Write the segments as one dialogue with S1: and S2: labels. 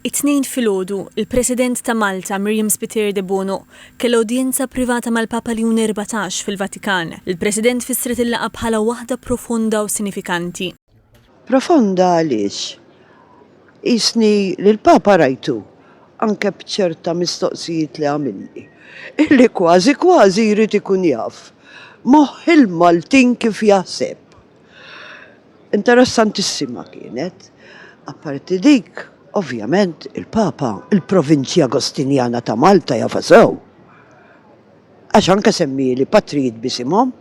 S1: It-Tnejn filgħodu, il-President ta' Malta, Miriam Spiteri Debono, kellha udjenza privata mal-Papa Leon Erbatax fil-Vatikan. Il-President fissret il-laqgħa bħala waħda profonda u sinifikanti. Profonda
S2: għaliex? Qisni li l-Papa rajtu, anke b'ċerta mistoqsijiet li għamilli, illi kważi kważi jrid ikun jaf moħħ il-Maltin kif jaħseb. Interessantissima kienet, apparti dik, ovvjament, il-Papa, il-Provinċja Agostinjana ta' Malta jafa sew. Għax anke semmieli patrijiet b'isimhom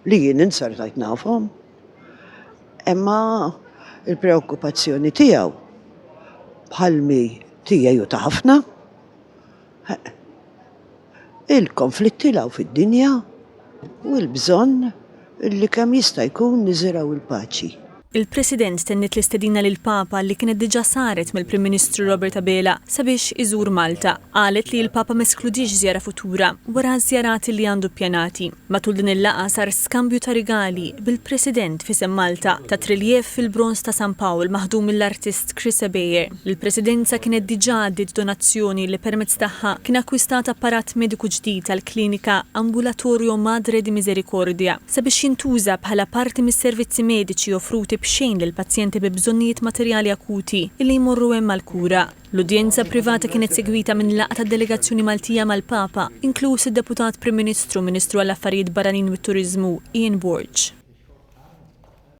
S2: li jien inzertajt nafhom. Imma il-preokkupazzjoni tiegħu bħalmi tiegħi u ta' ħafna, il-konflitti 'l hawn fid-dinja u l-bżonn li kemm jista' jkun niżirgħu l-paċi. Il-President
S1: tenniet l-istedina lill-Papa li kienet diġà saret mill-Prim Ministru Robert Abela sabiex iżur Malta. Qalet li l-Papa ma eskludiex żjara futura wara ż-żjarat li għandu ppjanati. Matul din il-laqgħa sar skambju ta' rigali bil-President f'isem Malta ta' triljef fil-bronż ta' San Pawl maħdum mill-artist Chris Ebejer li l-Presidenza kienet diġà għaddiet donazzjoni li permezz tagħha kien akkwistat apparat mediku ġdid għall-klinika Ambulatorio Madre di Misericordia sabiex jintuża bħala parti mis-servizzi mediċi offruti b'xejn lill-pazjenti bi bżonnijiet materjali akuti li jmorru hemm għall-kura. L-udjenza privata kienet segwita minn laqgħa tad-delegazzjoni Maltija mal-Papa, inkluż id-Deputat Prim Ministru u Ministru għall-Affarijiet Barranin u t-Turiżmu, Ian Borg.